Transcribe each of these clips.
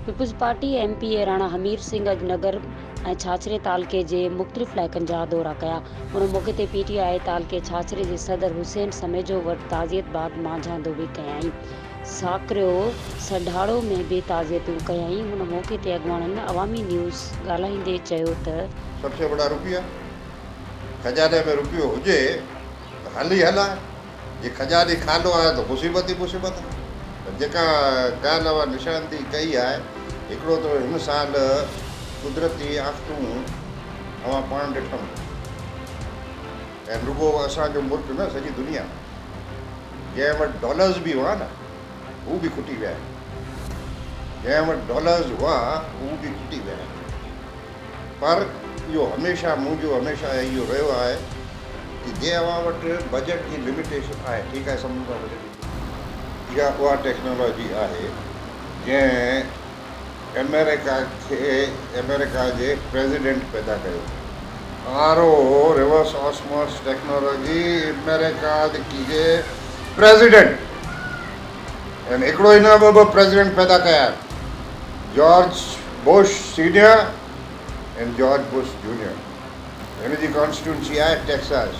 Peoples Party MPA Rana Hameer Singh اڄ نگر ۽ ڇاڇري تعلقي جي مختلف علائقن جا دورا ڪيا ان موقعي تي پي ٽي آء تعلقي ڇاڇري جي صدر حسين سميجو وٽ تعزيت بعد مانجهاندو به ڪيائين ساڪرو سڍاڙو ۾ به تعزيتون ڪيائين ان موقعي تي اڳواڻن عوامي نيوز ڳالهائيندي چيو ته سب سي بڙا روپيه کجاني ۾ روپيو هجي ته هل ئي هل آهي، جي کجاني خالو آهي ته مصيبت ئي مصيبت آهي. پر جيڪا ڳالهه اوهان نشاندهي ڪئي آهي، هڪڙو ته هن سال قدرتي آفتون اوهان پاڻ ڏٺا هوندا. ۽ رڳو اسان جو ملڪ نه سڄي دنيا ۾ جنهن وٽ ڊالرز به هئا نه هو به کٽي ويا آهن. جنهن وٽ ڊالرز هئا هو به کٽي ويا آهن. پر اهو هميشه منهنجو هميشه اهو رهيو آهي ته جي اوهان وٽ بجيٽ جي لميٽيشن آهي ٺيڪ آهي سمجهون ٿا بجيٽ جي اها اها ٽيڪنالاجي آهي جنهن امريڪا کي امريڪا جي پريزيڊنٽ پيدا ڪيو R O reverse osmosis technology America جي پريزيڊنٽ هن هڪڙو ئي نه ٻه ٻه پريزيڊنٽ پيدا ڪيا آهن George Bush senior ۽ George Bush junior هن جي ڪانسٽيٽوئنسي آهي ٽيڪساز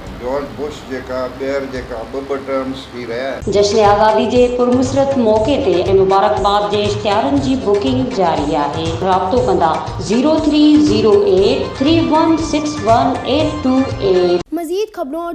۽ جارج بوش جيڪا ٻيهر جيڪا ٻه ٻه ٽرمز ٿي رهيا آهن. جشن آزادي جي پرمسرت موقعي تي ۽ مبارڪباد جي اشتهارن جي بڪنگ جاري آهي رابطو ڪندا zero three zero eight three one six one eight two eight. مزيد خبرون اور